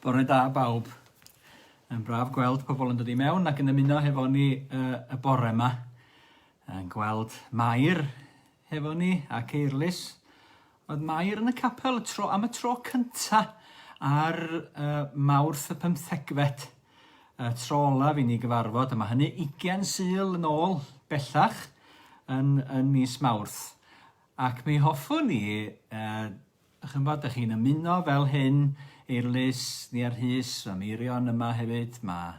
Bore da bawb. Yn braf gweld pobl yn dod i mewn ac yn ymuno hefo ni uh, y bore yma. Yn gweld Mair hefo ni ac Eirlys Oedd Mair yn y capel y tro am y tro cynta ar uh, Mawrth y pymthegfed. Y tro olaf i ni gyfarfod, a mae hynny 20 syl yn ôl bellach yn, yn mis Mawrth. Ac mi hoffwn i, uh, chi'n bod, ydych chi'n ymuno fel hyn i'r lys ni ar hys, mae Meirion yma hefyd, mae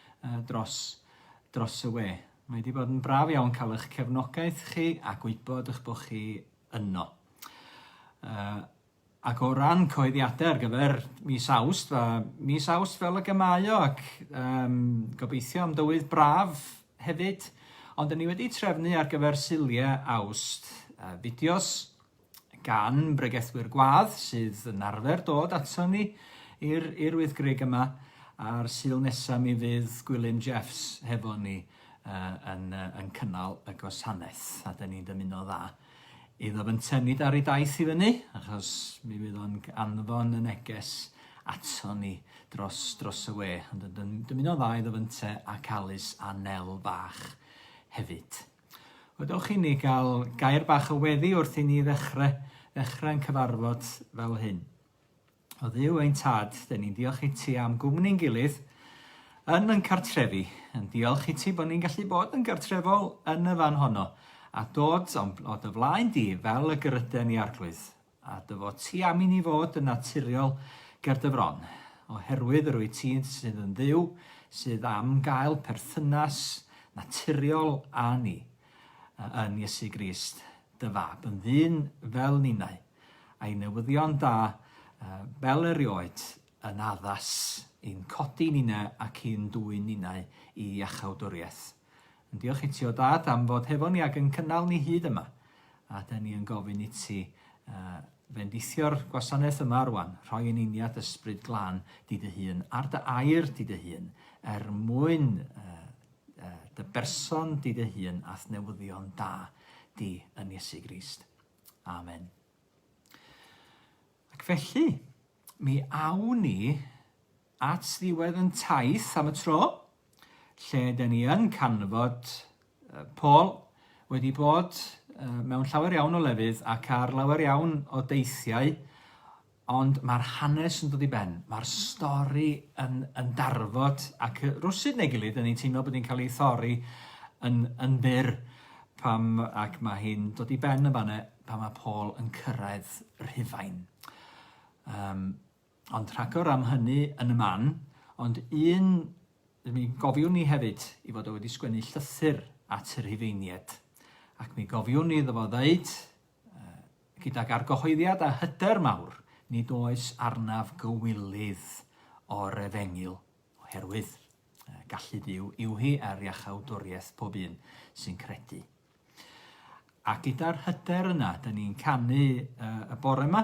dros dros y we. Mae 'di bod yn braf iawn cael eich cefnogaeth chi a gwybod eich bod chi yno. Uh, ac o ran coeddiadau ar gyfer mis awst, fa, mis awst fel y gymau o, ac um, gobeithio am dywydd braf hefyd, ond ni wedi trefnu ar gyfer siliau awst, uh, fideos gan bregethwyr gwadd sydd yn arfer dod aton ni i'r i'r wyddgrug yma, a'r Sul nesa mi fydd Gwilym Jeffs hefo ni uh, yn, uh, yn cynnal y gwasanaeth, a dyn ni'n dymuno dda iddo fyntenid ar ei daith i fyny, achos mi fydd o'n anfon y neges aton ni dros, dros y we, ond yn dymuno dda iddo fynte ac Alys a Nel bach hefyd. Odewch i ni gael gair bach o weddi wrth i ni ddechrau, ddechrau yn cyfarfod fel hyn. O ddiw ein tad, dyn ni'n diolch i ti am gwmni'n gilydd yn yn cartrefi, yn diolch i ti bod ni'n gallu bod yn gartrefol yn y fan honno, a dod o dy flaen di fel y gyrryden i arglwydd. A dy fod ti am i ni fod yn naturiol ger dy fron, oherwydd yr wyt ti sydd yn Dduw sydd am gael perthynas naturiol â ni, yn Iesu Grist, dy Fab, yn ddyn fel ninnau, a'i newyddion da, fel erioed, yn addas i'n codi ninnau ac i'n dwyn ninnau i iachawdwriaeth. Yn diolch iti o Dad am fod hefo ni ac yn cynnal ni hyd yma. A da ni yn gofyn iti uh, fendithio'r gwasanaeth yma rwan, rhoi yn uniad ysbryd glan di dy hun, ar dy air di dy hun, er mwyn uh, uh, dy berson di dy hun a'th newyddion da di yn Iesu Grist. Amen. Ac felly, mi awn ni at ddiwedd yn taith am y tro, lle dyn ni yn canfod Paul wedi bod mewn llawer iawn o lefydd ac ar lawer iawn o deithiau, ond mae'r hanes yn dod i ben, mae'r stori yn, yn darfod ac rwsyd neu gilydd, dyn ni'n teimlo bod ni'n cael ei thori yn, yn fyr pam, ac mae hi'n dod i ben yn fanna pan mae Paul yn cyrraedd Rhufain. Um, Ond rhagor am hynny yn y man, ond un, mi gofiwn ni hefyd i fod o wedi sgwennu llythyr at y Rhufeinied, ac mi gofiwn ni iddo fo ddeud, uh, gydag argyhoeddiad a hyder mawr, nid oes arnaf gywilydd o'r efengyl, oherwydd uh, gallu Dyw yw hi ar iachawdwriaeth pob un sy'n credu. A gyda'r hyder yna, dyn ni'n canu uh, y bore yma,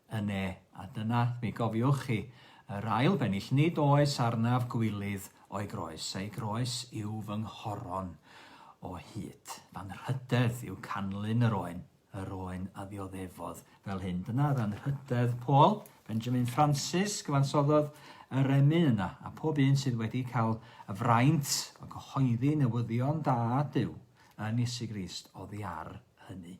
Yne, a dyna, mi gofiwch chi, yr ail fennill, nid oes arnaf gwilydd o'i groes, ei groes yw fy nghoron o hyd. Fy nhrydedd yw canlyn yr oen, yr oen a ddioddefodd fel hyn. Dyna ddanrhydedd Paul, Benjamin Francis, gyfansoddodd y remyn yna, a pob un sydd wedi cael y fraint o gyhoeddi newyddion da Duw yn Iesu Grist oddi ar hynny.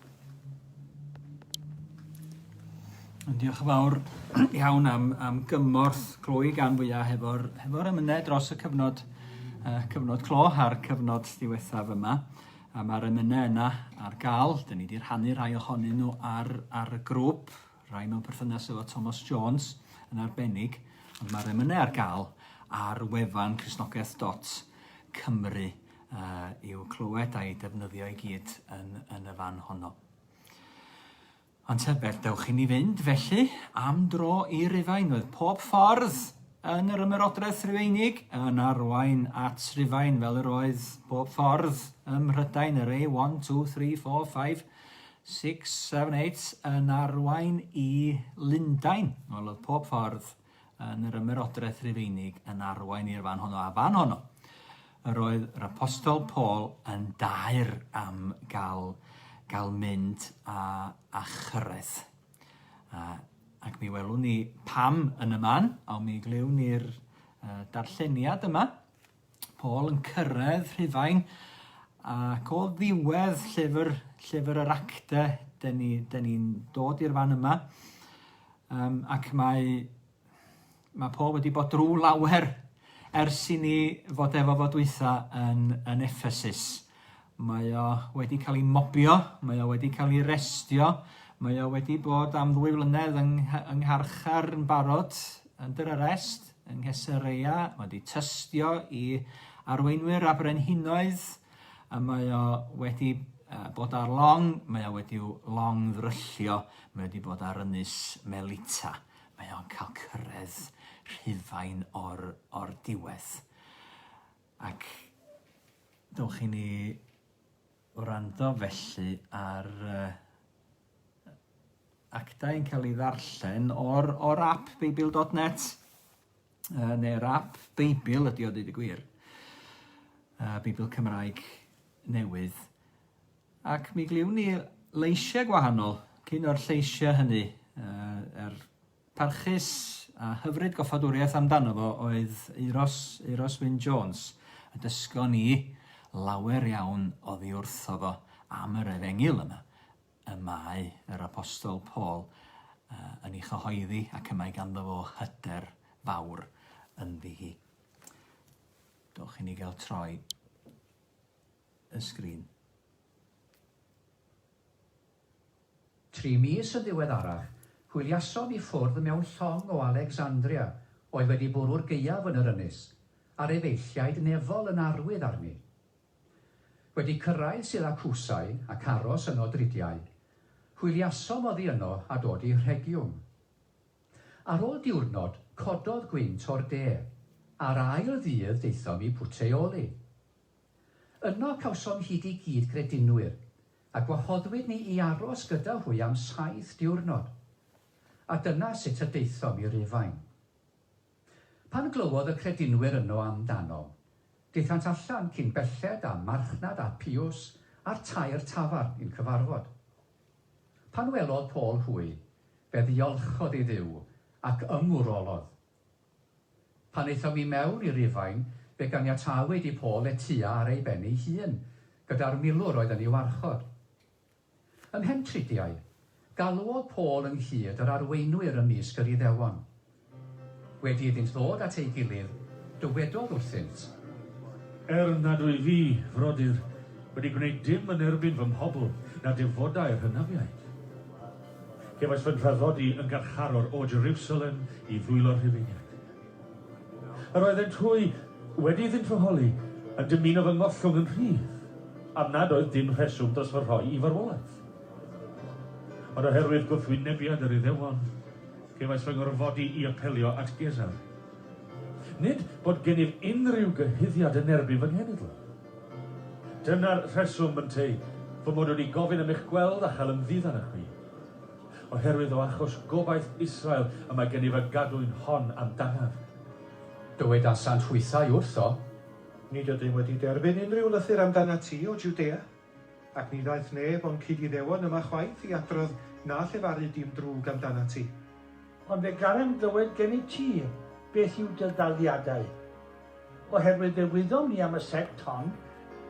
Diolch yn fawr iawn am, am gymorth clwy gan fwyaf hefo'r hefo ymynedd dros y cyfnod, uh, cyfnod clo a'r cyfnod diwethaf yma. A mae'r ymynedd yna ar gael. Dyn ni wedi rhannu rhai ohonyn nhw ar, ar y grŵp, rhai mewn perthynas efo Thomas Jones yn arbennig. Ond mae'r ymynedd ar gael ar wefan chrysnogaeth.cymru. uh, i'w clywed a'i defnyddio i gyd yn, yn y fan honno. Ond tybed, dewch i ni fynd felly am dro i Rufain, oedd pob ffordd yn yr ymerodraeth Rufeinig yn arwain at Rufain fel yr oedd pob ffordd ym Mhrydain yr ei 1, 2, 3, 4, 5, 6, 7, 8 yn arwain i Lundain. Wel, oedd pob ffordd yn yr Ymerodraeth Rufeinig yn arwain i'r fan honno, a fan honno, yr oedd yr apostol Paul yn dair am gael, gael mynd a, a chyrraedd. A, ac mi welwn ni pam yn y man, a mi glywn ni'r uh, darlleniad yma, Paul yn cyrraedd Rhufain, ac o ddiwedd llyfr, llyfr yr acte, dyn ni'n ni, dod i'r fan yma, um, ac mae, mae Paul wedi bod drwy lawer ers i ni fod efo fod weitha yn, yn Ephesus. Mae o wedi cael ei mobio, mae o wedi cael ei restio, mae o wedi bod am ddwy flynedd yng, yng Ngharchar yn barod, under arrest, yng Nghesareia wedi tystio i arweinwyr a brenhinoedd a mae o wedi bod ar long, mae o wedi long ddryllio, mae wedi bod ar ynys Melita, mae o'n cael cyrraedd Rhufain o'r, or diwedd. Ac dowch i ni Wrando felly ar yy actau yn cael ei ddarllen o'r o'r ap Beibil dot net yy neu'r ap Beibil ydi o deud y gwir. Yy Beibil Cymraeg newydd. Ac mi gliwn ni leisiau gwahanol cyn o'r lleisiau hynny yy yr Parchus a hyfryd goffadwriaeth amdano fo oedd Euros, Euros Wyn Jones, a dysgon ni lawer iawn oddi wrtho fo am yr efengyl yma y mae yr Apostol Paul yn ei chyhoeddi ac y mae ganddo fo hyder fawr ynddi hi. Dowch i ni gael troi y sgrin. Tri mis yn ddiweddarach, hwyliasom i ffwrdd mewn llong o Alexandria oedd wedi bwrw'r gaeaf yn yr ynys, a'r efeilliaid nefol yn arwydd arni. Wedi cyrraedd Syracusae ac aros yno dridiau, hwyliasom oddi yno a dod i Rhegiwm. Ar ôl diwrnod, cododd gwynt o'r de, a'r ail ddydd daethom i Puteoli. Yno cawsom hyd i gyd-gredinwyr, a gwahoddwyd ni i aros gyda hwy am saith diwrnod. A dyna sut y daethom i Rufain. Pan glywodd y credinwyr yno am danom, daethant allan cyn belled â marchnad Apiws a'r tair tafarn i'n cyfarfod. Pan welodd Paul hwy, fe ddiolchodd i Dduw, ac ymwrolodd, Pan aethom i mewn i Rufain, fe ganiatawyd i Paul letua ar ei ben ei hun, gyda'r milwr oedd yn ei warchod. Ymhen tridiau, galwodd Paul ynghyd yr arweinwyr ymysg yr Iddewon. Wedi iddynt ddod at ei gilydd, dywedodd wrthynt. Er nad wyf fi, frodyr, wedi gwneud dim yn erbyn fy mhobl, na defodau'r hynafiaid. Cefais fy nhraddodi yn garcharor o Jerusalem i ddwylo'r Rhufeiniaid. Yr oeddent hwy, wedi iddynt fy holi, yn dymuno fy ngollwng yn rhydd, am nad oedd dim rheswm dros fy rhoi i farwolaeth. Ond oherwydd gwrthwynebiad yr Iddewon, cefais fy ngorfodi i apelio at Gesar. Nid bod gennyf unrhyw gyhuddiad yn erbyn fy nghenedl. Dyna'r rheswm, ynteu, fy mod wedi gofyn am eich gweld a chael ymddid arnoch chi. Oherwydd o achos gobaith Israel y mae gennyf y gadwyn hon am danaf. Dywedasant hwythau wrtho. Nid ydym wedi derbyn unrhyw lythyr am danat ti, O Jwdea. Ac ni ddaeth neb o'n cyd-Iddewon yma chwaith i adrodd na llefaru dim drwg am danat ti. Ond fe garem glywed gennyt ti beth yw dy ddaliadau, Oherwydd fe wyddom ni am y sect hon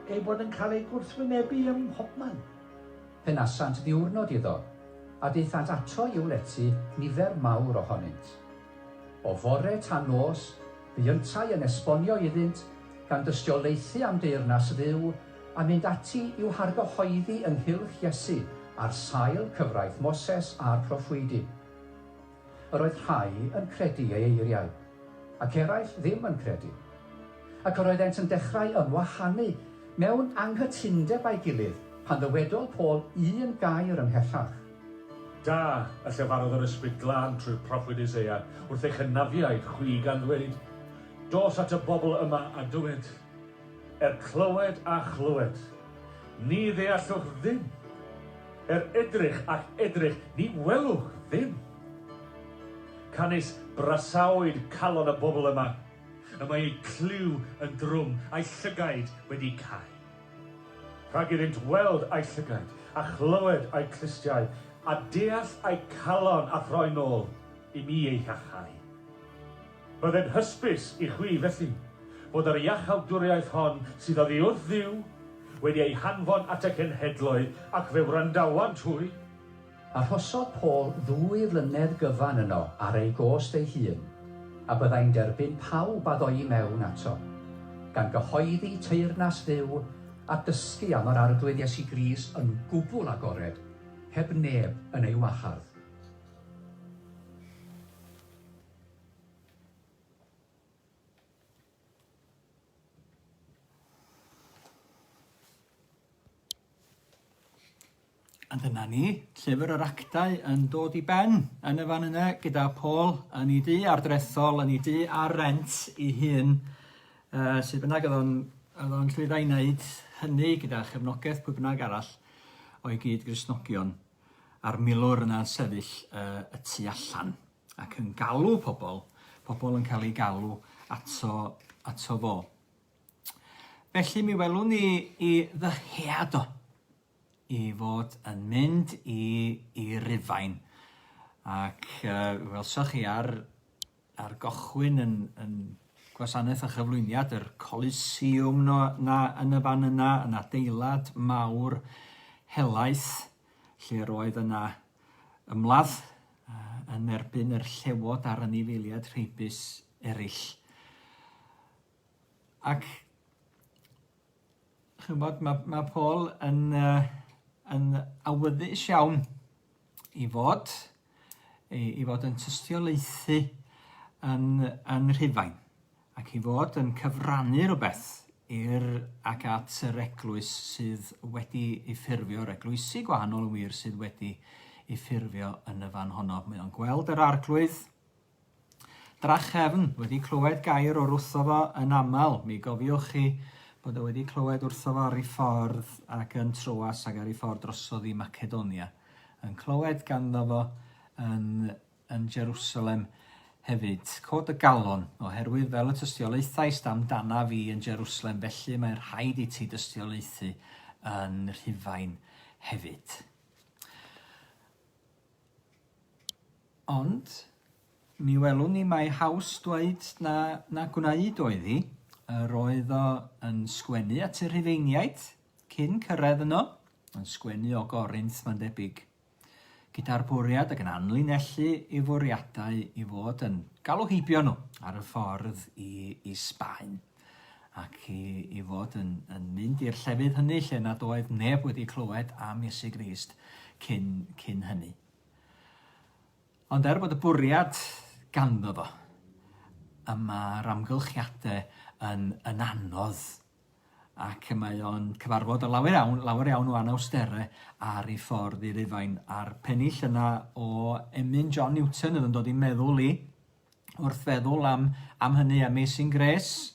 ei bod yn cael ei gwrthwynebu ym mhobman. Fe nasant ddiwrnod iddo, a daethant ato i'w lety nifer mawr ohonynt. O fore tan nos bu yntau yn esbonio iddynt, gan dystiolaethu am deyrnas Dduw, a mynd ati i'w hargyhoeddi ynghylch Iesu ar sail cyfraith Moses a'r proffwydi. Yr oedd rhai yn credu ei eiriau, ac eraill ddim yn credu. Ac yr oeddent yn dechrau ymwahanu mewn anghytundeb â'i gilydd, pan ddywedodd Paul un gair ymhellach. Da, a llefarodd yr Ysbryd Glân trwy'r proffwyd Isaiah wrth eich hynafiaid chwi, gan ddweud, Dos at y bobl yma a dywed, Er clywed a chlywed, ni ddeallwch ddim, er edrych ac edrych, ni welwch ddim. Canys brasaoed calon y bobl yma, y mae eu clyw yn drwm, a'u llygaid wedi cau. Rhag iddynt weld a'u llygaid, a chlywed a'u clustiau, a deall a'u calon a throi nôl i mi eu hachau. Byddai'n hysbys i chwi, felly, fod yr iachawdwriaeth hon sydd oddi wrth Dduw wedi ei hanfon at y cenhedloedd, ac fe wrandawant hwy. Arhosodd Paul ddwy flynedd gyfan yno ar ei gost ei hun, a byddai'n derbyn pawb a ddoi mewn ato, gan gyhoeddi teyrnas Dduw a dysgu am yr Arglwydd Iesu Grist yn gwbl agored, heb neb yn ei wahardd. A dyna ni, llyfr yr actau yn dod i ben yn y fan yna gyda Paul yn ei dŷ ardrethol, yn ei dŷ ar rent ei hun. Uh, sut bynnag oedd o'n, oedd o'n llwyddo i wneud hynny gyda chefnogaeth pwy bynnag arall o'i gyd grisnogion a'r milwr yna'n sefyll uh, y tu allan. Ac yn galw pobl, pobl yn cael eu galw ato, ato fo. Felly mi welwn ni i ddyhead o, i fod yn mynd i, i Rufain. Ac uh, welsoch chi ar, ar gochwyn yn, yn gwasanaeth a chyflwyniad yr Coliseum no, na, yn y fan yna, yn adeilad mawr helaeth, lle roedd yna ymladd yn erbyn yr llewod a'r anifeiliaid rheibus eraill. Ac chymod, mae, mae Paul yn, uh, yn awyddus iawn i fod, i, i fod yn tystiolaethu yn, yn rhyfain. Ac ei fod yn cyfrannu rhywbeth i'r ac at yr Eglwys sydd wedi ei ffurfio, yr Eglwysi gwahanol yn wir sydd wedi ei ffurfio yn y fan honno. Mae o'n gweld yr arglwydd drachefn wedi clywed gair o'r wrtho fo yn aml. Mi gofiwch chi bod o wedi clywed wrtho fo ar ei ffordd ac yn troas ac ar ei ffordd drosodd i Macedonia, yn clywed ganddo fo yn yn Jerusalem hefyd. Cod y galon, oherwydd fel y tystiolaethaist amdanaf i yn Jerusalem, felly mae'n rhaid i ti dystiolaethu yn Rhufain hefyd. Ond mi welwn ni mae haws dweud na, na gwneud oedd hi. Yr oedd o yn sgwennu at y Rhufeiniaid cyn cyrraedd yno, yn sgwennu o Gorinth mae'n debyg. gyda'r bwriad ac yn anlinellu ei fwriadau i fod yn galw heibio nhw ar y ffordd i, i Sbaen ac i, i fod yn, yn mynd i'r llefydd hynny lle nad oedd neb wedi clywed am Iesu Grist cyn, cyn hynny. Ond er bod y bwriad ganddo fo, y mae'r amgylchiadau yn, yn anodd ac y mae o'n cyfarfod â lawer iawn, lawer iawn o anawstere ar ei ffordd i Rufain, a'r pennill yna o emyn John Newton oedd yn dod i'n meddwl i, wrth feddwl am, am hynny, Amazing Grace,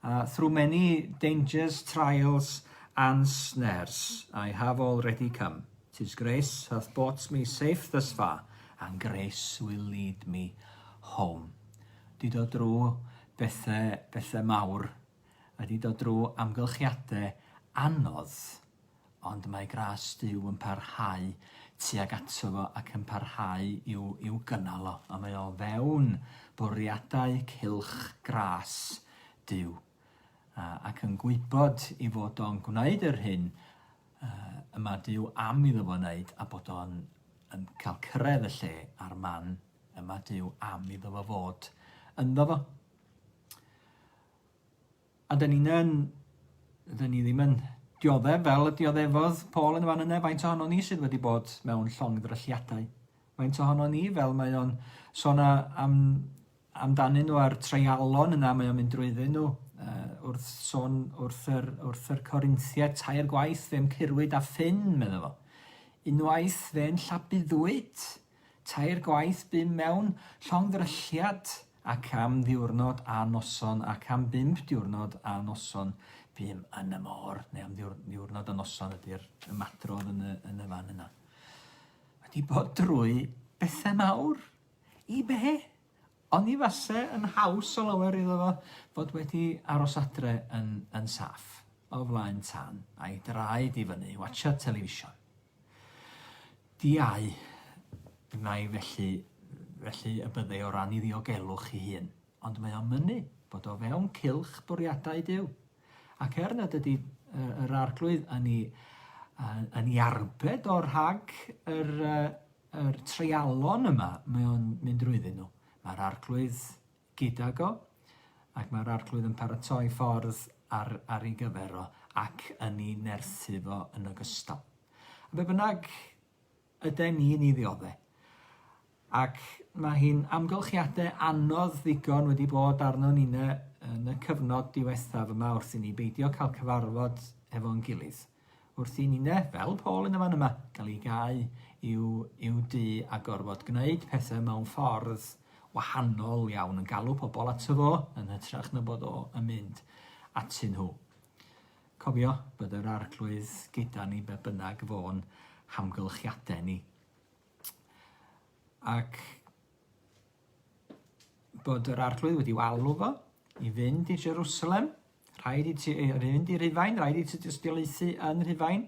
uh, Through many dangers, trials and snares, I have already come. Tis grace hath brought me safe thus far, and grace will lead me home. Di dod drwy Bethe, bethe mawr wedi dod drw amgylchiade anodd, ond mae gras Duw yn parhau tuag ato fo ac yn parhau i'w, i'w gynnal o, a mae o fewn bwriadau cylch gras Duw, a, ac yn gwybod i fod o'n gwneud yr hyn uh, yma Duw am iddo fo wneud, a bod o'n yn cael cyrraedd y lle a'r man Yma Duw am iddo fo fod ynddo fo. A dyn ni'n yn, dyn ni ddim yn dioddef fel y dioddefodd Paul yn y fan yna, faint ohono ni sydd wedi bod mewn llong ddrylliadau. Faint ohono ni, fel mae o'n sôn am, amdanyn nhw a'r treialon yna mae o'n mynd drwyddyn nhw, uh, wrth sôn wrth yr, wrth yr Corinthia, tair gwaith fe'n cyrwyd a ffyn, meddwl fo. Unwaith fe'n llabuddwyd, Tair gwaith bum mewn llongddrylliad ac am ddiwrnod a noson ac am bump diwrnod a noson bum yn y môr, neu am ddiwr- ddiwrnod a noson ydy'r ymadrodd yn y, yn y fan yna. Wedi bod drwy bethau mawr. I be? Ond i fase yn haws o lawer iddo fo fod wedi aros adre yn, yn saff o flaen tân a'i draed i fyny, watsiad television. Diau, nai felly, felly y bydde o ran 'i ddiogelwch 'i hun, ond mae o'n mynnu bod o fewn cylch bwriadau Duw. Ac er nad ydy yy yr Arglwydd yn 'i yy yn 'i arbed o rhag yr yy yr treialon yma mae o'n mynd drwyddyn nhw, mae'r Arglwydd gydag o, ac mae'r Arglwydd yn paratoi ffordd ar, ar ei gyfer o, ac yn ei nerthu fo yn ogystal. A be bynnag yden ni'n ei ddiodde. Ac mae hi'n amgylchiadau anodd ddigon wedi bod arno ni yn y cyfnod diwethaf yma wrth i ni beidio cael cyfarfod efo'n gilydd. Wrth i ninne, fel Paul yn y fan yma, gael ei gau i'w, i'w du a gorfod gwneud pethau mewn ffordd wahanol iawn, yn galw pobl ato fo yn hytrach na bod o yn mynd atyn nhw. Cofio bod yr arglwydd gyda ni be bynnag fo'n hamgylchiadau ni. Ac bod yr arglwydd wedi walw fo i fynd i Jerusalem Rhaid i ti ei fynd i Rufain, rhaid i ti dystiolaethu yn Rhufain,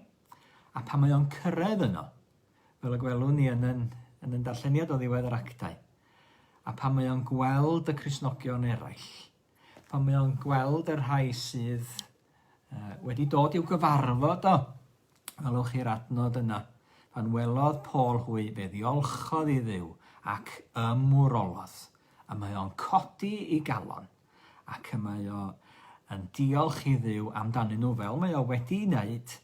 a pan mae o'n cyrraedd yno, fel y gwelwn ni yn yn, yn yn darlleniad o ddiwedd yr actau, a pan mae o'n gweld y Cresnogion eraill, pan mae o'n gweld y rhai sydd uh, wedi dod i'w gyfarfod o. Welwch chi'r adnod yna. Pan welodd Paul hwy, fe ddiolchodd i ddew ac ymwrolodd, a mae o'n codi i galon. ac y mae o yn diolch i Dduw amdanyn nhw fel mae o wedi wneud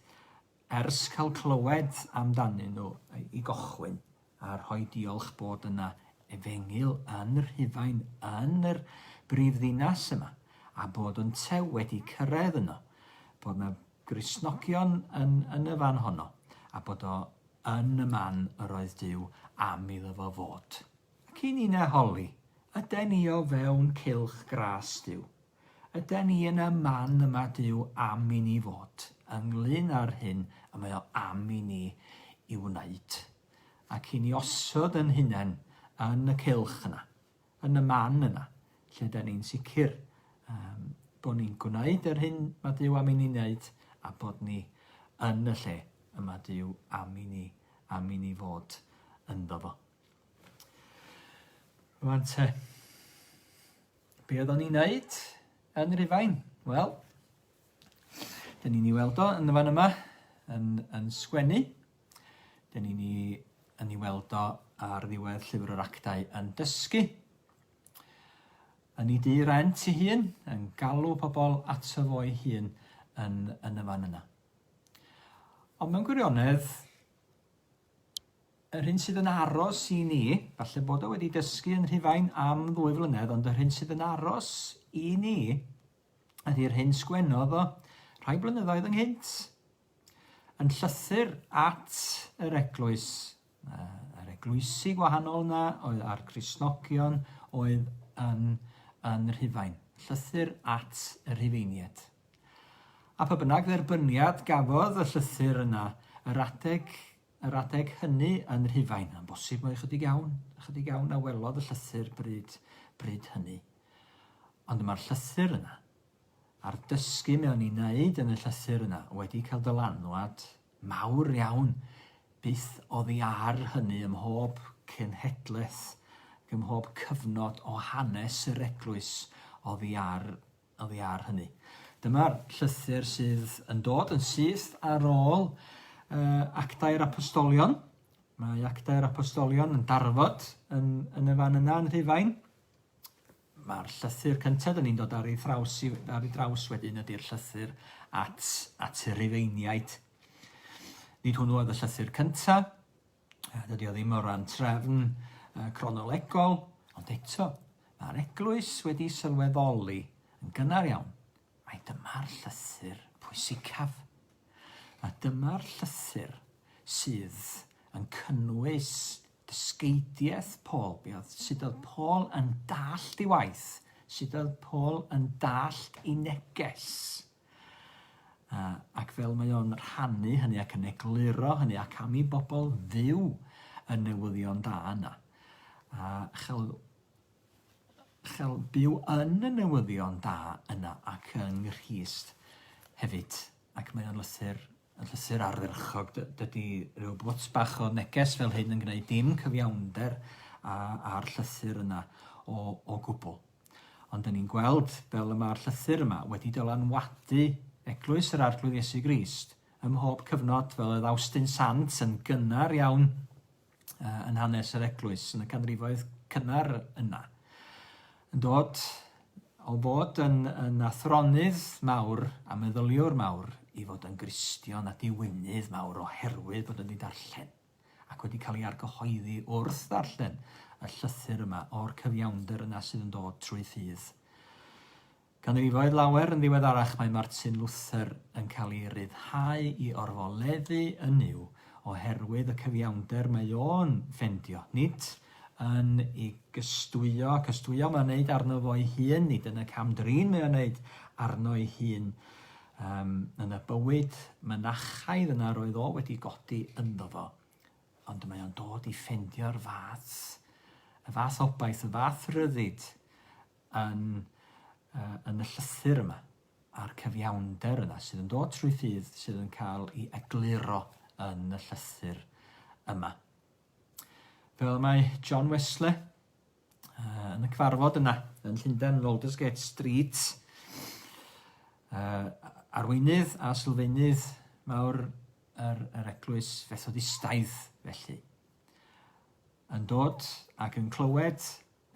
ers cael clywed amdanyn nhw i gochwyn a rhoi diolch bod yna efengyl yn Rhufain yn yr brif ddinas yma a bod yn tew wedi cyrraedd yno, bod yna grisnogion yn, yn y fan honno a bod o yn y man yr oedd Dyw am iddo fo fod. Ac i ni na holi, yden ni o fewn cylch gras Duw. Yden ni yn y man y mae Duw am i ni fod, ynglŷn â'r hyn y mae o am i ni i wneud. Ac i ni osod yn hunain yn y cylch yna, yn y man yna, lle yden ni'n sicr um, bod ni'n gwneud yr hyn mae Duw am i ni wneud a bod ni yn y lle y mae Duw am i ni, am i ni fod ynddo fo. Rwan te. Be oeddwn ni'n neud yn Rufain? Wel, dyn ni'n ei weld o yn y fan yma, yn, yn sgwennu. Dyn ni'n ei, yn ei weld o ar ddiwedd llyfr yr actau yn dysgu. Yn ei dy rent ei hun, yn galw pobl ato fo'i hun yn, yn y fan yna. Ond mewn gwirionedd, Yr hyn sydd yn aros i ni, falle bod o wedi dysgu yn Rhufain am ddwy flynedd, ond yr hyn sydd yn aros i ni ydy'r hyn sgwennodd o rhai blynyddoedd ynghynt yn llythyr at yr eglwys, yr eglwysi gwahanol yna oedd a'r Crisnogion oedd yn, yn Rhufain. Llythyr at y Rhufeiniaid. A pha bynnag dderbyniad gafodd y llythyr yna, yr adeg, yr adeg hynny yn Rhufain, yn bosib mai ychydig iawn, ychydig iawn a welodd y llythyr bryd, bryd hynny. Ond mae'r llythyr yna, a'r dysgu mewn ei wneud yn y llythyr yna wedi cael dylanwad mawr iawn byth oddi ar hynny ym mhob cenhedlaeth ac ym mhob cyfnod o hanes yr Eglwys oddi ar oddi ar hynny. Dyma'r llythyr sydd yn dod yn syth ar ôl uh, actau'r apostolion. Mae actau'r apostolion yn darfod yn, yn y fan yna yn Rhufain. Mae'r llythyr cyntaf dyn ni'n dod ar ei thraws, ar ei draws wedyn ydy'r llythyr at, at y Rufeiniaid. Nid hwnnw oedd y llythyr cyntaf, A dydy o ddim o ran trefn uh, cronolegol, ond eto, mae'r eglwys wedi sylweddoli yn gynnar iawn mae dyma'r llythyr pwysicaf. A dyma'r llythyr sydd yn cynnwys dysgeidiaeth Paul. Be oedd, sut oedd Paul yn dallt ei waith? Sut oedd Paul yn dallt ei neges? A, ac fel mae o'n rhannu hynny ac yn egluro hynny, ac am i bobl fyw y newyddion da yna, a chael, chael byw yn y newyddion da yna ac yng Nghrist hefyd. Ac mae o'n lythyr, yn lythyr ardderchog. Dydy rhyw bwt bach o neges fel hyn yn gwneud dim cyfiawnder â'r llythyr yna o, o gwbl. Ond dyn ni'n gweld fel y mae'r llythyr yma wedi dylanwadu Eglwys yr Arglwydd Iesu Grist ym mhob cyfnod, fel oedd Awstin Sant yn gynnar iawn yn hanes yr Eglwys yn y canrifoedd cynnar yna. Yn dod o fod yn, yn athronydd mawr a meddyliwr mawr i fod yn Gristion a diwynydd mawr oherwydd bod yn ddidarllen. ac wedi cael ei argyhoeddi wrth ddarllen y llythyr yma o'r cyfiawnder yna sydd yn dod trwy ffydd ganrifoedd lawer yn ddiweddarach, mae Martin Luther yn cael ei ryddhau i orfoleddu yn yw oherwydd y cyfiawnder mae o'n ffendio, nid yn ei gystwyo, cystwyo mae'n wneud arno fo'i hun, nid yn y cam drin mae o'n wneud arno ei hun, Yym, yn y bywyd mynachaidd yna roedd o wedi godi ynddo fo, ond mae o'n dod i ffendio'r fath, y fath obaith, y fath ryddid yn, uh, yn y llythyr yma, a'r cyfiawnder yna sydd yn dod trwy ffydd sydd yn cael ei egluro yn y llythyr yma. Fel mae John Wesley uh, yn y cyfarfod yna yn Llundain, yn Aldersgate Street. Uh, arweinydd a sylfaenydd mawr yr, yr eglwys fethodistaidd felly. Yn dod ac yn clywed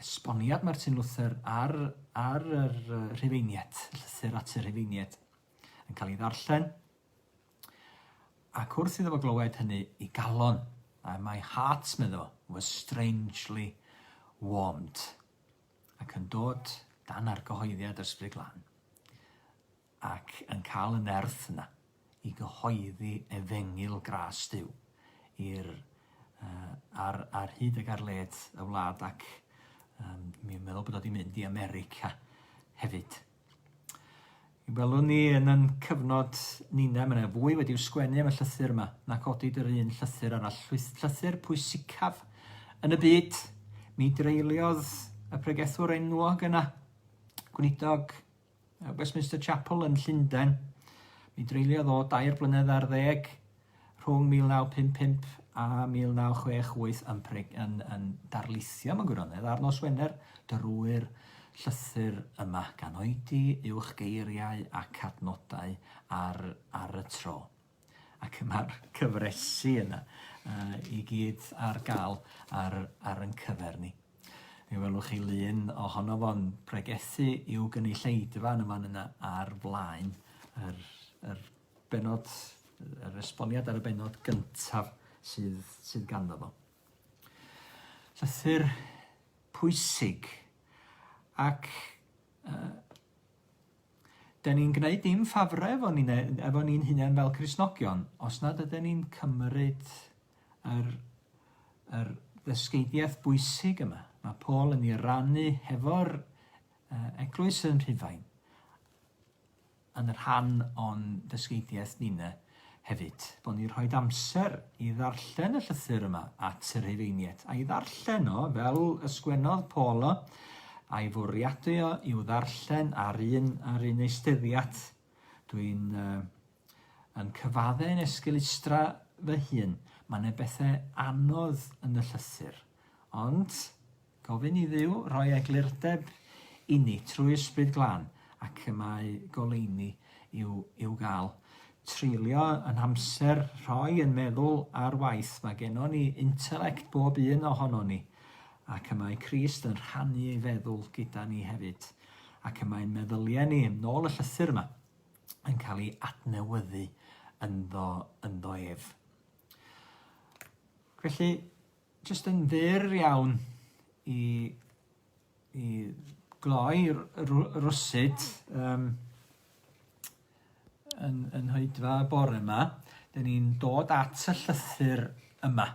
esboniad Martin Luther ar, ar yr rhufeiniad, llythyr at y rhufeiniad, yn cael ei ddarllen, Ac wrth iddo fo glywed hynny i galon, a my heart, medda fo, was strangely warmed, ac yn dod dan argyhoeddiad yr Ysbryd Glân, ac yn cael y nerth yna i gyhoeddi efengyl gras Duw i'r uh, ar, ar hyd ag ar led y wlad ac um, mi'n meddwl bod o wedi mynd i America hefyd. Welwn ni yn yn cyfnod Nina, mae yna fwy wedi'w sgwennu am y llythyr yma na godid yr un llythyr arall. Llythyr pwysicaf yn y byd. Mi dreuliodd y pregethwr enwog yna, gweinidog Westminster Chapel yn Llundain, mi dreuliodd o dair blynedd ar ddeg rhwng 1955 a 1968 yn Preg yn yn darlithio mewn gwirionedd ar nos Wener drwy'r llythyr yma gan oedi uwch geiriau ac adnodau ar ar y tro ac mae'r cyfresi yna uh, i gyd ar gael ar, ar yn cyfer ni. Mi welwch chi lun ohono fo'n pregethu i'w gynulleidfa yn y fan yna ar flaen yr, yr Bennod, yr esboniad ar y bennod gyntaf sydd, sydd ganddo fo. Llythyr pwysig ac uh, Da ni'n gwneud dim ffafrau efo ni'n e, efo ni hunain fel Cresnogion os nad ydyn ni'n cymryd yr, yr ddysgeidiaeth bwysig yma. Mae Paul yn ei rannu hefo'r uh, eglwys yn Rhufain. yn rhan o'n dysgeidiaeth ninne hefyd, bod ni'n rhoid amser i ddarllen y llythyr yma at y Rhufeiniaid, a'i ddarllen o fel y sgwennodd Paul o, a'i fwriadu o i'w ddarllen ar un ar un eisteddiad. Dwi'n uh, yn cyfadde yn esgelustra fy hun. Mae yna bethau anodd yn y llythyr. Ond Gofyn i Dduw roi eglurdeb inni trwy Ysbryd Glân ac y mae goleuni i'w i'w gael. Treulio yn amser rhoi yn meddwl ar waith mae gennon ni intelect bob un o honon ni ac y mae Crist yn rhannu ei feddwl gyda ni hefyd ac y mae meddyliau ni, nôl y llythyr yma, yn cael ei adnewyddu ynddo ynddo ef. Felly, Jyst yn fyr iawn i i gloi r- r- rwsut yym yn yn hoedfa y bore 'ma, 'dyn ni'n dod at y llythyr yma.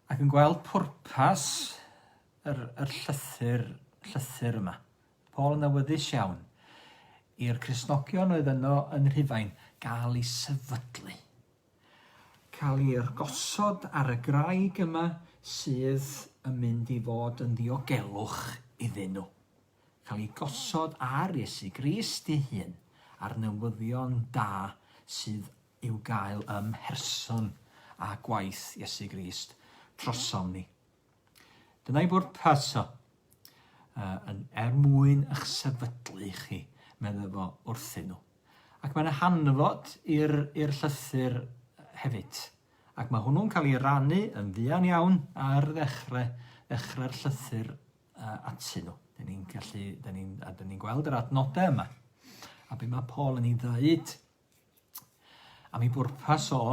Ac yn gweld pwrpas yr yr llythyr llythyr yma. Paul yn awyddus iawn i'r Cristnogion oedd yno yn Rhufain gael 'u sefydlu. cael ei gosod ar y graig yma sydd yn mynd i fod yn ddiogelwch iddyn nhw. Cael ei gosod ar Iesu Grist ei hun a'r newyddion da sydd i'w gael ym mherson a gwaith Iesu Grist drosom ni. Dyna'i bwrpas o. Uh, yn er mwyn eich sefydlu chi, meddai fo wrthyn nhw. Ac mae'n hanfod i'r llythyr hefyd. Ac mae hwnnw'n cael ei rannu yn fuan iawn ar ddechrau, ddechrau'r llythyr uh, atyn nhw. Dyn ni'n gallu, dyn ni'n, a dyn ni'n gweld yr adnodau yma. A be mae Paul yn ei ddeud A mi bwrpas o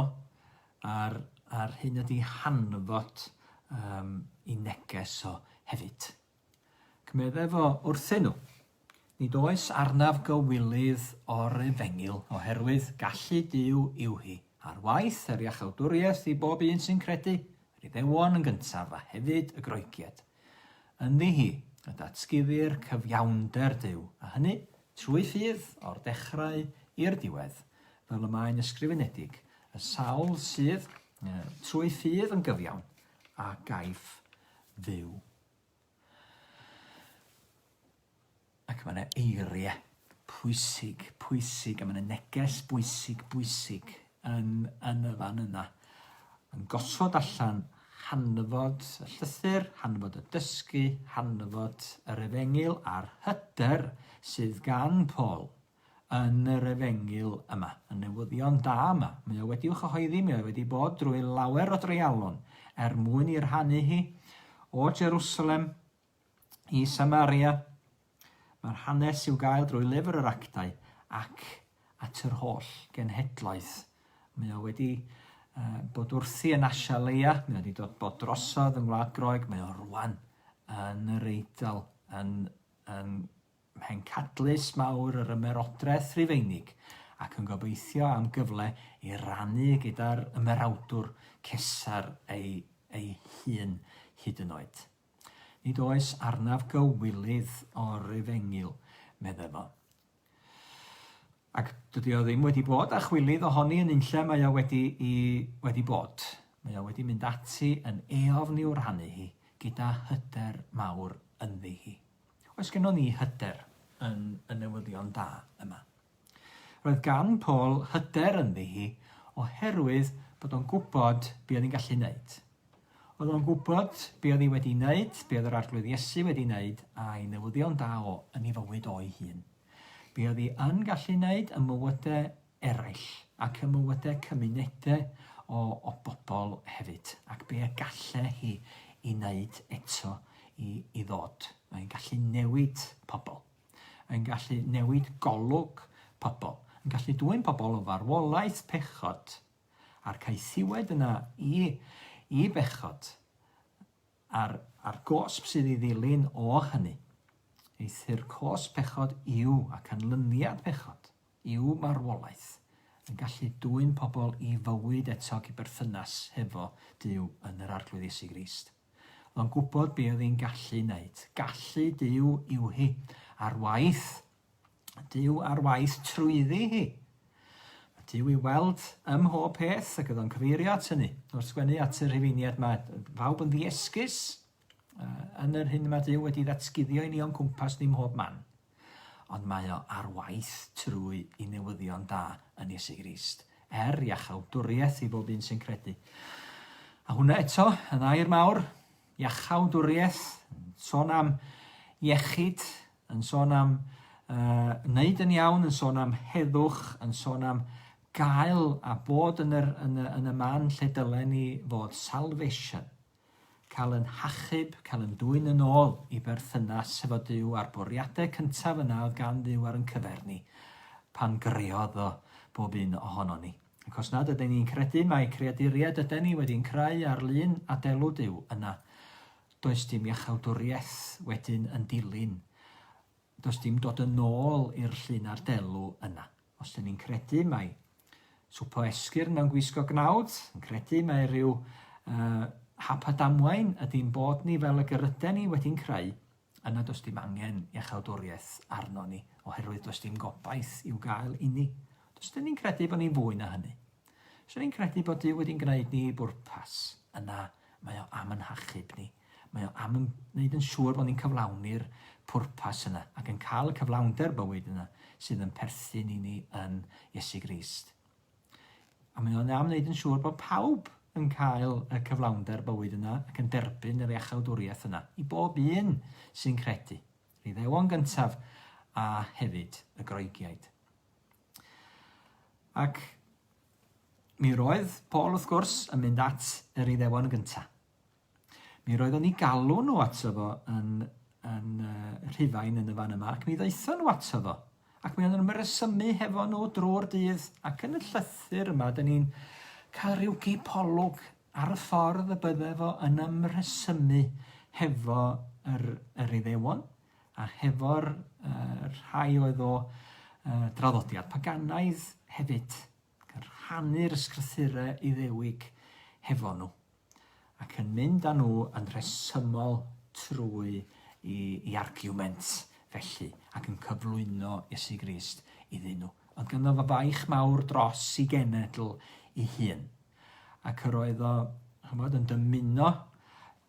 a'r a'r hyn ydi hanfod um, i neges o hefyd. Cymedde fo wrthyn nhw. Nid oes arnaf gywilydd o'r efengil, oherwydd gallu Dyw yw hi, ar waith yr iachawdwriaeth i bob un sy'n credu, yr iddewon yn gyntaf a hefyd y groegiad. Ynddi hi, y datguddir cyfiawnder Dyw, a hynny Trwy ffydd, o'r dechrau i'r diwedd, fel y mae'n ysgrifenedig, y sawl sydd trwy ffydd yn gyfiawn, a gaiff fyw. Ac mae yna eiriau pwysig, pwysig, a mae yna neges bwysig, bwysig yn yn y fan yna. Yn gosod allan hanfod y llythyr, hanfod y dysgu, hanfod yr efengyl a'r hyder sydd gan Paul yn yr efengyl yma, y newyddion da yma. Mae o wedi'w chyhoeddi, mae o wedi bod drwy lawer o dreialon er mwyn i rhannu hi o Jerusalem i Samaria. Mae'r hanes i'w gael drwy lyfr yr actau ac at yr holl genhedloedd. Mae o wedi uh, bod wrthi yn Asia Leia, mae o wedi dod bod drosodd yng Ngwlad Groeg, mae o rwan yn yr Eidl, yn, yn mhencadlys mawr yr ymerodraeth rhufeinig, ac yn gobeithio am gyfle i rannu gyda'r ymerawdwr cesar ei, ei hun hyd yn oed. Nid oes arnaf gywilydd o'r Efengyl, medde fo. Ac dydy o ddim wedi bod â chwilydd ohoni yn unlle mae o wedi i wedi bod. Mae o wedi mynd ati yn eofn i'w rhannu hi gyda hyder mawr ynddi hi. Oes gennon ni hyder yn y newyddion da yma? Roedd gan Paul hyder ynddi hi oherwydd bod o'n gwybod be oedd hi'n gallu wneud. Oedd o'n gwybod be oedd hi wedi wneud, be oedd yr Arglwydd Iesu wedi wneud, a'i newyddion da o yn ei fywyd o'i hun. Be oedd hi yn gallu wneud ym mywydau eraill ac ym mywydau cymunedau o, o bobl hefyd, ac be y galle hi i wneud eto i, i ddod. Mae'n gallu newid pobl. Mae'n gallu newid golwg pobl. Mae'n gallu dwyn pobl o farwolaeth pechod A'r caethiwed yna i i bechod, a'r a'r gosb sydd i ddilyn o hynny. Eithr cosb pechod yw, a canlyniad pechod, yw marwolaeth, yn gallu dwyn pobl i fywyd eto ac i berthynas hefo Duw yn yr Arglwydd Iesu Grist. Oedd o'n gwybod be oedd hi'n gallu wneud. Gallu Duw yw hi, ar waith Mae Duw ar waith trwyddi hi. Mae Duw i weld ym mhob peth ac ydo'n cyfeirio at hynny. Wrth sgwennu at y rhifeiniad mae pawb yn ddiesgus yn yr hyn mae Duw wedi ddatguddio i ni o'n cwmpas ni mhob man. Ond mae o ar waith trwy i newyddion da yn Iesu Grist, er iachawdwriaeth i bob un sy'n credu. A hwnna eto, yn air mawr, iachawdwriaeth, sôn am iechyd yn sôn am yy wneud yn iawn, yn sôn am heddwch, yn sôn am gael a bod yn, yr, yn, y, yn y man lle dylen ni fod, salvation, cael yn hachub, cael yn dwy'n yn ôl i berthynas efo Dyw a'r bwriadau cyntaf yna oedd gan Dduw ar yn cyfer ni pan greodd o bob un ohono ni. Ac os nad ydyn ni'n credu mae creaduriaid ydyn ni wedi'n creu ar lun adelw Dyw yna, does dim iachawdwriaeth wedyn yn dilyn, does dim dod yn ôl i'r llun a'r delw yna. Os dyn ni'n credu mai swp o esgyrn mewn gwisgo gnawd, yn credu mae rhyw uh, hap a damwain ydy'n bod ni fel y gyryden ni wedi'n creu, yna does dim angen iachawdwriaeth arno ni, oherwydd does dim gobaith i'w gael i ni. Does dyn ni'n credu bod ni'n fwy na hynny. Os dyn ni'n credu bod Dyw wedi'n gwneud ni bwrpas, yna Mae o am yn hachub ni. Mae o am yn wneud yn siŵr bod ni'n cyflawni'r pwrpas yna ac yn cael y cyflawnder bywyd yna sydd yn perthyn i ni yn Iesu Grist. A mae o'n am wneud yn siŵr bod pawb yn cael y cyflawnder bywyd yna ac yn derbyn yr iachawdwriaeth yna i bob un sy'n credu. Yr iddewon gyntaf a hefyd y groegiaid. Ac Mi roedd Paul wrth gwrs yn mynd at yr Iddewon yn gynta. Mi roeddon ni galw nhw ato fo yn, yn uh, Rhufain yn y fan yma, ac mi ddaethon nhw ato fo. Ac mi o'n nhw'n myresymu hefo nhw drwy'r dydd, ac yn y llythyr yma, dyn ni'n cael rhyw gipolwg ar y ffordd y bydde fo yn ymresymu hefo yr, yr Iddewon. a hefo'r uh, rhai oedd o uh, draddodiad paganaidd hefyd, gan rhannu'r ysgrythurau iddewig hefo nhw, ac yn mynd â nhw yn rhesymol trwy i, i argument felly, ac yn cyflwyno Iesu Grist iddyn nhw. Oedd ganddo fo faich mawr dros i genedl i hun. Ac yr oedd o, chymod, yn dymuno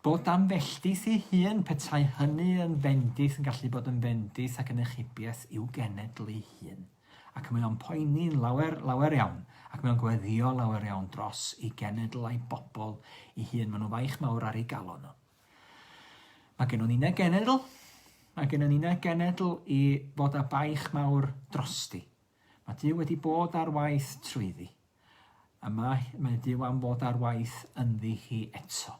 Bod am felltith ei hun, petai hynny yn fendith yn gallu bod yn fendith ac yn ychybiaeth i'w genedl ei hun. Ac mae o'n poeni'n lawer, lawer iawn, ac mae o'n gweddio lawer iawn dros ei genedl a'i bobl ei hun. Mae nhw faich mawr ar ei galon nhw. Mae gennon ni na genedl, mae gennon ni na genedl i fod â baich mawr drosti. Mae Dyw wedi bod ar waith trwyddi. A mae, mae Duw am fod ar waith ynddi hi eto.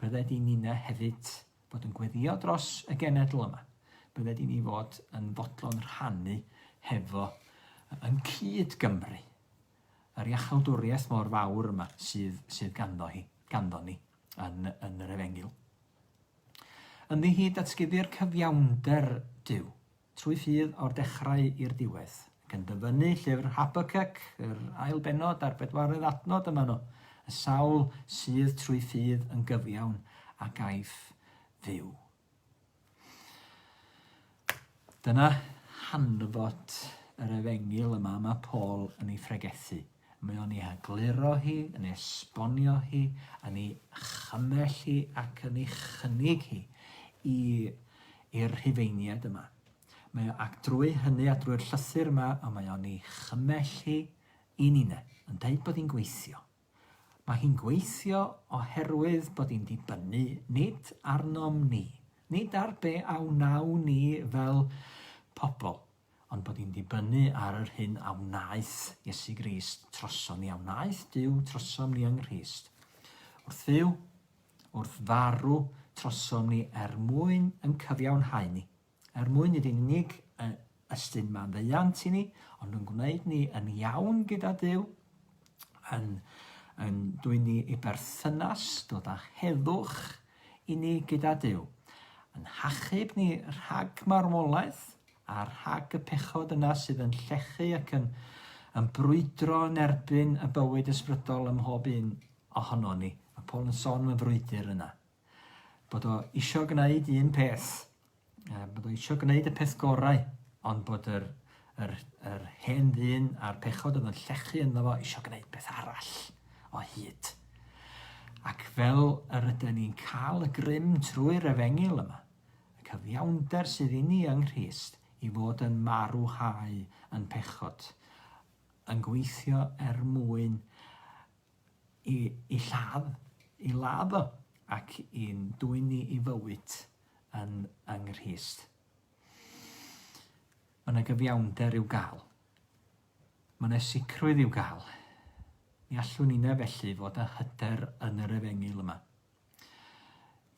Bydde di Nina hefyd fod yn gweddio dros y genedl yma. Bydde di ni fod yn fodlon rhannu hefo yn cyd Gymru yr iachawdwriaeth mor fawr yma sydd, sydd ganddo hi, ganddo ni yn, yn yr efengil. Ynddi hi datguddi'r cyfiawnder Duw Trwy ffydd o'r dechrau i'r diwedd. Ac yn dyfynnu llyfr Habacuc, yr ail bennod a'r bedwaredd adnod yma nhw, y sawl sydd trwy ffydd yn gyfiawn a gaiff fyw. Dyna hanfod yr efengil yma mae Paul yn ei phregethu. Mewn ei hegluro hi, yn ei esbonio hi, yn ei chymell hi ac yn ei chynnig hi i i'r Rhufeiniaid yma. Mae o, ac drwy hynny a drwy'r llythyr yma, a mae o'n ei chymell hi i Nina, yn dweud bod hi'n gweithio. Mae hi'n gweithio oherwydd bod hi'n dibynnu nid arnom ni, nid ar be a wnawn ni fel pobl, ond bod ni'n dibynnu ar yr hyn a wnaeth Iesu Grist trosom ni, a wnaeth Duw trosom ni yng Nghrist. Wrth fyw, wrth farw, trosom ni er mwyn yn cyfiawnhau ni, er mwyn nid yn unig ystyn maddeuant i ni, ond yn gwneud ni yn iawn gyda Duw, yn, yn dwy ni i berthynas, dod â heddwch i ni gyda Duw, yn hachub ni rhag marwolaeth, A rhag y pechod yna sydd yn llechu ac yn yn brwydro yn erbyn y bywyd ysbrydol ym mhob un ohono ni. Mae Paul yn sôn am y frwydr yna. Bod o isio gwneud un peth, bod o isio gwneud y peth gorau, ond bod yr, yr, yr hen ddyn a'r pechod oedd yn llechu ynddo fo isio gwneud peth arall o hyd. Ac fel yr ydyn ni'n cael y grym trwy'r efengil yma, Y cyfiawnder sydd inni yng Nghrist i fod yn marwhau yn pechod, yn gweithio er mwyn i, i lladd, i ladd o, ac i'n dwyn ni i fywyd yn, yng Nghrist. Mae yna gyfiawnder i'w gael. Mae yna sicrwydd i'w gael. Mi allwn inne felly fod â hyder yn yr efengyl yma.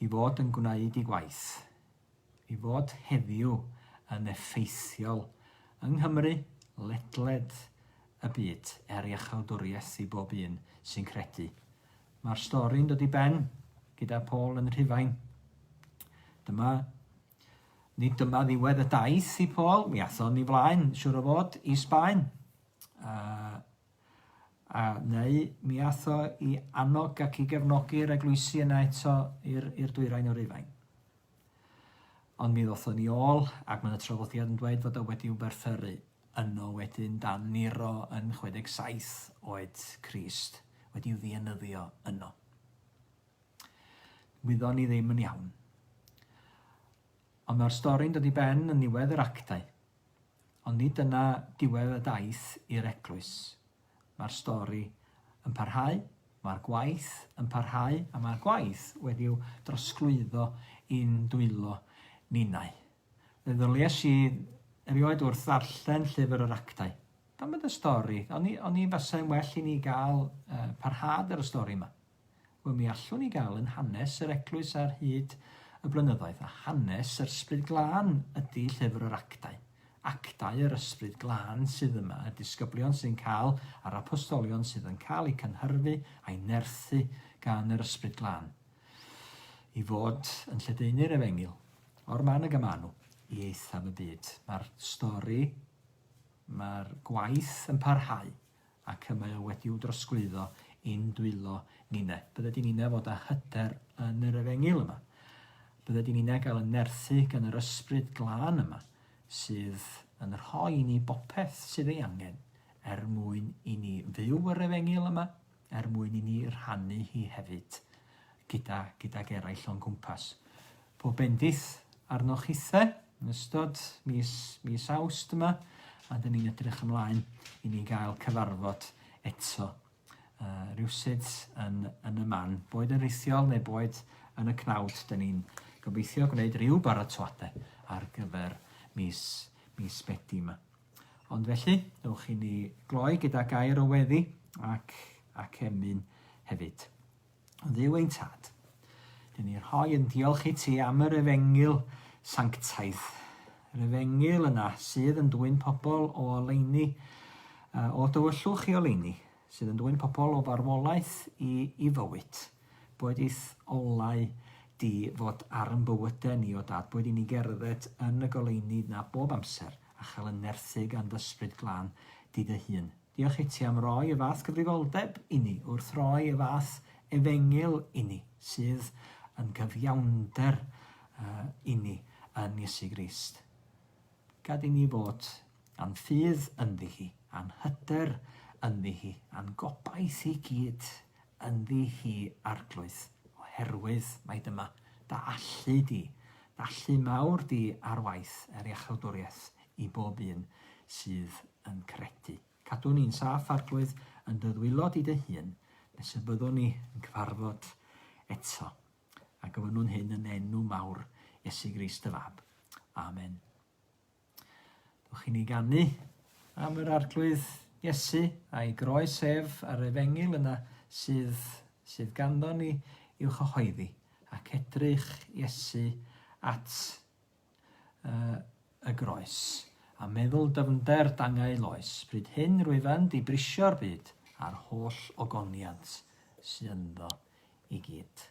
I fod yn gwneud ei gwaith. I fod heddiw yn effeithiol yng Nghymru, ledled y byd, er iachawdwriaeth i bob un sy'n credu. Mae'r stori'n dod i ben gyda Paul yn Rhufain. Dyma Nid dyma ddiwedd y daith i Paul, mi athon ni flaen, siwr o fod, i Sbaen. Uh, A, neu, mi aeth o i annog ac i gefnogi'r eglwysi yna eto i'r, i'r dwyrain o Rufain. Ond mi ddothon ni ôl, ac mae'n y traddodiad yn dweud fod o wedi wberfferu yno wedyn dan Nero yn 67 oed Crist wedi ddienyddio yno. Wyddon ni ddim yn iawn. Ond mae'r stori'n dod i ben yn niwedd yr actau. Ond nid dyna diwedd y daith i'r Eglwys. Mae'r stori yn parhau, mae'r gwaith yn parhau a mae'r gwaith wedi'w drosglwyddo i'n dwylo ninnau. Fe ddylais i erioed wrth ddarllen Llyfr yr Actau. Pam bod y stori? Oni, oni fasai'n well i ni gael uh, parhad ar y stori yma? Wel, mi allwn ni gael yn hanes yr Eglwys ar hyd y blynyddoedd, a hanes yr Ysbryd Glân ydy Llyfr yr Actau. Actau yr Ysbryd Glân sydd yma, y disgyblion sydd yn cael, a'r apostolion sydd yn cael eu cynhyrfu a'u nerthu gan yr Ysbryd Glân i fod yn lledaenu'r Efengyl, o'r man y gamanu, i eithaf y byd. Mae'r stori, mae'r gwaith yn parhau. ac y mae o wedi'w drosglwyddo i'n dwylo ninne. Bydde di ninne fod â hyder yn yr efengyl yma. Bydde di ninne gael y nerthu gan yr ysbryd glân yma, sydd yn rhoi i ni bopeth sydd ei angen, er mwyn i ni fyw yr efengyl yma, er mwyn i ni rhannu hi hefyd gyda, gydag eraill o'n cwmpas. Pob bendith arnoch chithe yn ystod mis, mis Awst yma, a dyn ni'n edrych ymlaen i ni gael cyfarfod eto uh, rhywsut yn, yn y man, boed yn rhithiol neu boed yn y cnawd, dyn ni'n gobeithio gwneud rhyw baratoadau ar gyfer mis, mis Medi yma. Ond felly, ewch i ni gloi gyda gair o weddi ac, ac emyn hefyd. Dduw ein Tad, dyn ni rhoi yn diolch i ti am yr efengyl sanctaidd, yr efengyl yna sydd yn dwy'n pobl o oleini, o dywyllwch i oleini, sydd yn dwy'n pobl o farwolaeth i, i fywyd. Boed i'th olau di fod ar yn bywydau ni, o Dad, boed i ni gerdded yn y goleini na bob amser a chael yn nerthu gan dy ysbryd glân di dy hun. Diolch iti am roi y fath gyfrifoldeb inni, wrth roi y fath efengyl inni, sydd yn gyfiawnder inni yn Iesu Grist. Gad inni fod a'n ffydd ynddi hi, a'n hyder ynddi hi, a'n gobaith i gyd ynddi hi Arglwydd, oherwydd mai dyma dy allu di, dy allu mawr di ar waith er iachawdwriaeth i bob un sydd yn credu. Cadw ni'n saff, Arglwydd, yn dy ddwylo di dy hun, nes y byddwn ni yn cyfarfod eto. A gofynnwn hyn yn enw mawr Iesu Grist y Fab. Amen. Dwch i ni gannu am yr Arglwydd Iesu a'i groes ef ar efengil yna sydd, sydd ganddo ni i'w chyhoeddi ac edrych Iesu at y groes, a meddwl dyfnder dangau loes, pryd hyn rwyfant i brisio'r byd a'r holl ogoniant sy ynddo i gyd.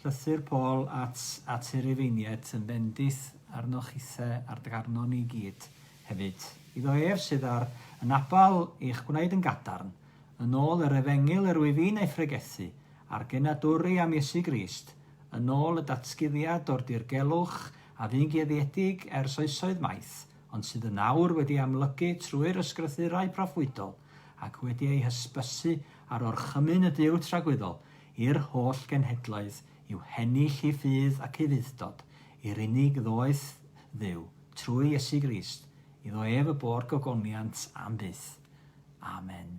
Llythyr Paul at at y Rufeiniaid yn bendith arnoch chithe ar dy garno ni gyd hefyd. Iddo ef sydd ar y nabal i'ch gwneud yn gadarn, yn ôl yr efengyl yr wyf i'n ei phregethu, a'r genadwri am Iesu Grist, yn ôl y datguddiad o'r dirgelwch a fu'n geuddiedig ers oesoedd maith, ond sydd yn awr wedi amlygu trwy'r ysgrythurau proffwydol, ac wedi ei hysbysu ar orchymyn y Duw tragwyddol, i'r holl genhedloedd i'w heni llu ffydd ac ufudd-dod i'r unig ddoeth Dduw, trwy Iesu Grist, iddo ef y bo'r gogoniant am byth. Amen.